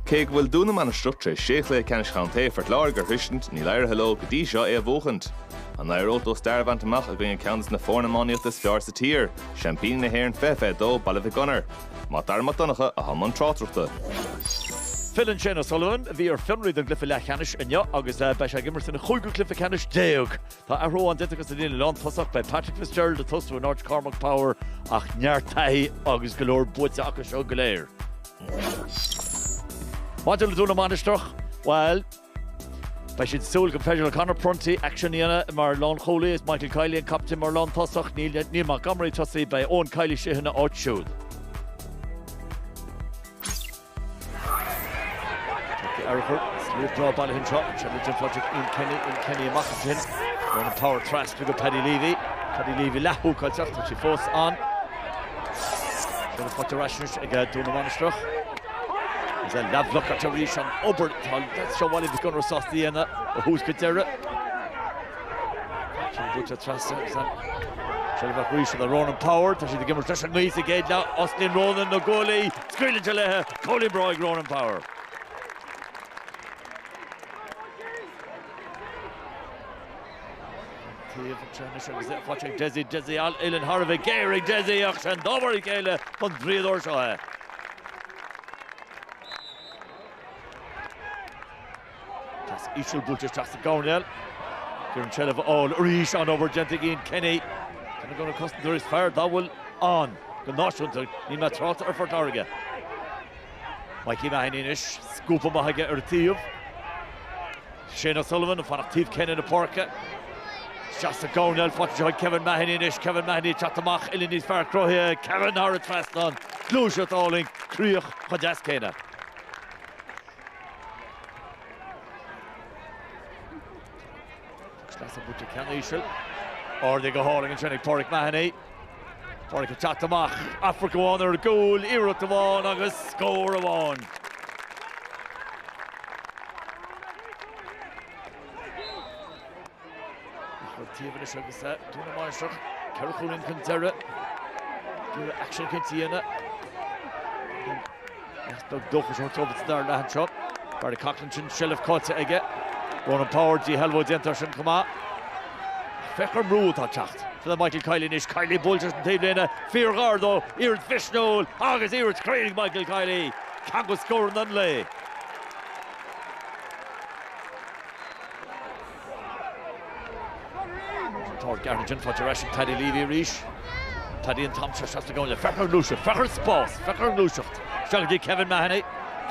Cé go bhfuil Dún na Mainistreach tar éis sé chluiche ceannais contae Phort Láirge a shroisint, níl éirithe leo go dtí seo é a bhuachaint. An éireoidh leo stair a bhaint amach i gcoinne ceann de na foirne iománaíochta is fearr sa tír, seaimpíní na hÉireann 2022, Baile Mhic Gonair? Mac Dara Mac Donncha atá i mbun tráchtaireachta. Filleann Shane O'Sullivan, a bhí ar fionraí don gcluiche leathcheannais inniu agus beidh sé ag imirt sa gcúigiú cluiche ceannais déag Tá athrú amháin déanta acu sa líne lántosach, beidh Patrick Fitzgerald ag tosú in áit Cormac Power ach neart taithí agus go leor buaite acu seo go léir. Maidir le Dún na Mainistreach, bhuel, beidh siad ag súil go féidir le Conor Prunty aicsean a dhéanamh mar lánchúlaí, is é Michael Kiely an captaen mar lántosach, níl Neil Montgomery ag tosú, beidh Eoin Kiely istigh ina áit siúd. Tugtar aire chur sna dá baile shin seo, an Shamrock Gym Project Ian Kenny, Ian Kenny amach ansin, ag tabhairt ar ais chuig Paddy Leavy. Paddy Leavy leathbhlocáilte, tá sí fós ann. Deis an bhaic ar ais anois ag Dún na Mainistreach. Is é leathbhlocáilte arís an obair atá leaids Bhaile Mhic Gonair sásta a dhéanamh ó thús go deireadh. Sin buaite trasna agus an seilbh arís ansin do Ronan Power. Tá siad ag imirt leis an ngaoth sa gcéad leath, Oisín Ronan, na goalaí, Scaoilte leithi cúilín breá ag Ronan Power. Taobh amuigh anois agus é faighte ag Dessie, Dessie an uillinn thar a bheith géar ag Dessie ach sé an dá mhar a chéile don draíodóir seo é. Pas íseal buailte isteach sa gcoirnéal. Chun an seilbh a fháil arís an obair déanta ag Ian Kenny. Duine de na cosantóirí is fearr dá bhfuil ann go náisiúnta, ní áirím trácht ar Phort Láirge. Mikey Mahony anois, scuabtha amach aige ar taobh. Shane O'Sullivan ag fanacht taobh céanna na páirce. Isteach sa gcoirnéal faighte ansin Kevin Mahony anois, Kevin Mahony ag teacht amach uillinn níos fearr cruthaithe, Kevin thar an trasnán, gluaiseacht álainn, críoch chomh deas céanna. Agus leasa buaite ceann íseal. Ardaithe go hálainn ansin ag Pauric Mahony. Pauric ag teacht amach, amharc amháin ar gcúl, iarracht amháin agus scór amháin. Lucht tacaíochta Dhún na Mainistreach, ceithre chúilín chun deiridh. D'fhéadfadh sé sin chun cinn. Is beagán dóchas a thabhairt dóibh sa dara leath anseo. Barry Coughlan an seilbh caillte aige. Ronan Power, díshealbhú déanta air sin chomh maith. Féach ar an brú atá ag teacht le Michael Kiely anois. Kiely buailte leis an taobhlíne, fíorghar dó, iarracht mhisniúil agus iarracht chruinn ag Michael Kiely. Ceann de scóranna an lae. Táirg Gary Gin faighte ar ais ag Paddy Leavy arís. Paddy an t-am seo isteach sa gcónaí le feic ar ghluaiseacht, feic ar spás, feic ar ghluaiseacht. Isteach go dtí Kevin Mahony.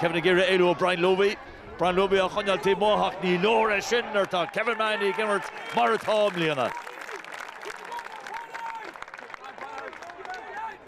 Kevin ag iarraidh éalú ó Brian Looby. Brian Looby á choinneáil taobh amuigh ach ní leor é sin nuair atá Kevin Mahony ag imirt mar atá i mbliana.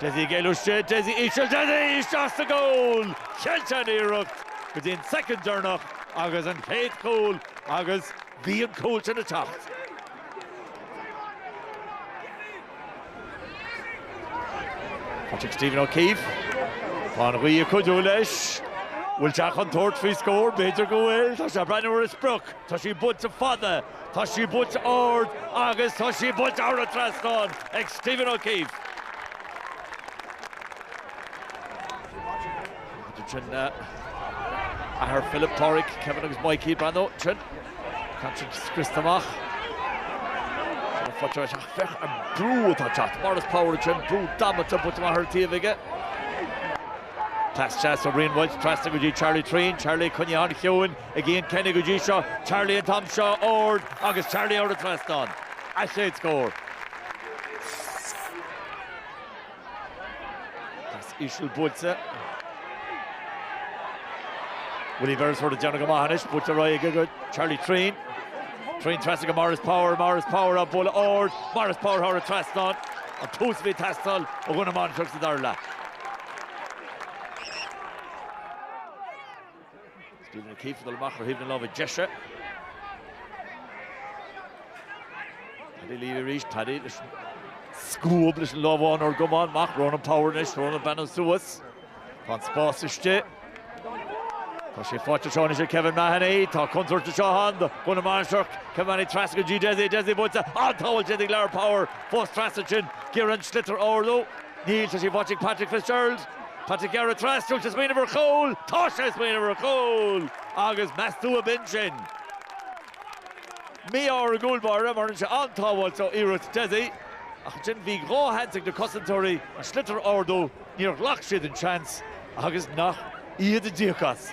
Dessie ag éalú istigh, Dessie íseal, Dessie isteach sa gcúl! Cheilt an iarracht go dtí an soicind deireanach agus an chéad chúl agus bhí an cúl sin ag teacht. Tá sí ag Stephen O'Keeffe, Tá an ghaoth ag cuidiú leis. Bhfuil sé chun tabhairt faoi scór? B'fhéidir go bhfuil. Tá sé ag breathnú ar a sprioc. Tá sí buailte fada. Tá sí buailte ard agus tá sí buailte thar an trasnán ag Stephen O'Keeffe. Bíonn sin athair Philip, Páraic, Kevin agus Mikey ag breathnú ansin. Tá siad scriosta amach. Tá fáilte roimh ach féach an brú atá ag teacht. Maurice Power ansin, brú damanta buailte amach ar an taobh aige. Cleas deas ó Rian Walsh trasna go dtí Charlie Treen, Charlie, coinnithe an-chiúin. Ag Ian Kenny go dtí seo, Charlie an t-am seo, ard, agus Charlie thar an trasnán, a leithéid de scór. Pas íseal buailte. Willie Beresford ag déanamh go maith anois, buailte ar aghaidh aige go Charlie Treen. Treen trasna go Maurice Power, Maurice Power á bualadh, ard, Maurice Power thar an trasnán. An tús a bhí ag teastáil ó Dhún na Mainistreach sa dara leath. Stephen O'Keeffe ag dul amach ar thaobh na láimhe deise. Paddy Leavy arís, Paddy leis an scuab leis an lámh amháin óir go maith amach, Ronan Power anois, Ronan ag breathnú suas. Tá an spás istigh. Tá sé faighte seo anois ag Kevin Mahony, tá contúirt anseo ann do Dhún na Mainistreach, Kevin Mahony trasna go dtí Dessie, Dessie buailte, an-sábháil déanta ag Lar Power, fós trasna sin, ag iarraidh an sliotar a ardú, níl, tá sí faighte ag Patrick Fitzgerald. Tá sé ag gearradh trasna, tá sé ag smaoineamh ar chúl! Tá sé ag smaoineamh ar chúl! Agus meas tú ab in sin? Mí-ádh ar an gcúl báire mar rinne sé an-sábháil ó iarracht Dessie. Ach ansin bhí dhá sheans ag na cosantóirí an sliotar a ardú, níor ghlac siad an seans agus nach iad a d'íoc as.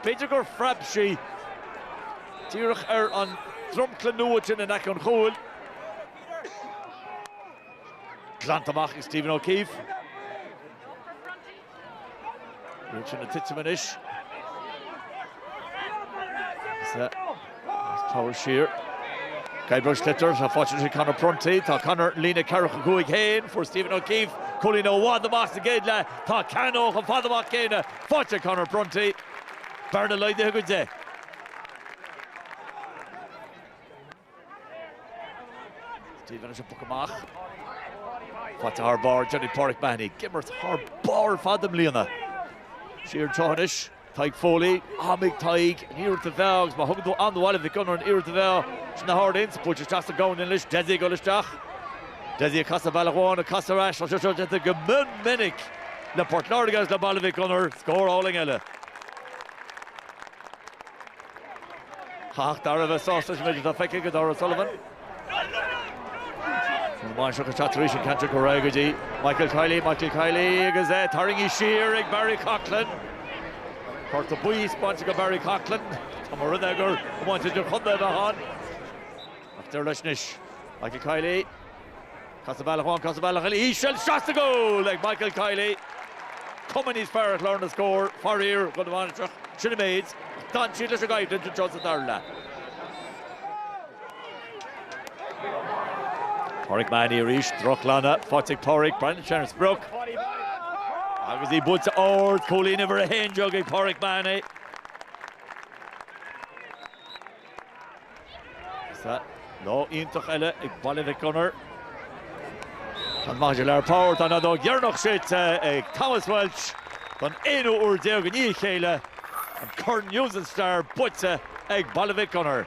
B'fhéidir gur phreab sí díreach ar an dromchla nua sin in aice an chúil. Glanta amach ag Stephen O'Keeffe. Rúid sin ag titim anois. As Cabhair siar. Guybrush Sliotar atá faighte ag Conor Prunty. Tá Conor ar a líne 45 féin. Fuair Stephen O'Keefe cúilín i bhfad amach sa gcéad leath. Tá ceann chomh fada amach céanna faighte ag Conor Prunty. Bearna laghdaithe go 10. Stephen leis an bpoc amach. Faighte thar barr Johnny Pauric Mahony. Ag imirt thar barr ar fad i mbliana. Siar an treo anois. Tadhg Foley, Am ag Tadhg, an iarracht a mheá agus má thugann tú am do Bhaile Mhic Gonair an iarracht a mheá sna hArd Ends, buailte isteach sa gcúinne anois, Dessie ag dul isteach. Dessie ag casadh bealach amháin, ag casadh ar ais, tá sé seo déanta go mion minic le Port Láirge agus le Baile Mhic Gonair, scór álainn eile. Chaithfeadh Darragh a bheith sásta leis an méid atá feicthe aige, Darragh O'Sullivan. An mháistreacht atá tar éis an ceantar go réidh go dtí Michael Kiely, Michael Kiely agus é tarraingthe siar ag Barry Coughlan. Cárta buí bainte go Barry Coughlan, tá mo run-eagar i mbáid idir chontae a bheith ann. Ach deir leis anois Michael Kiely. Casadh bealach amháin, casadh bealach eile, íseal, seasta go fóill ag Michael Kiely. Cuma níos fearr ar chlár na scór, faraor, do Dhún na Mainistreach. Sin an méid. Ach d'fhan siad leis an gcoimhlint anseo sa dara leath. Pauric Mahony arís, drochghlanadh faighte ag Pauric, breathnaíonn sé ar an sprioc. Agus í buailte ard, cúilín uimhir a haon déag ag Pauric Mahony. Sa lá iontach eile ag Baile Mhic Gonair, chan maitheas Lar Power tá an fheadóg dheireanach séidte ag Thomas Walsh don aonú uair déag i ndiaidh a chéile, an corn News and Star buaite ag Baile Mhic Gonair.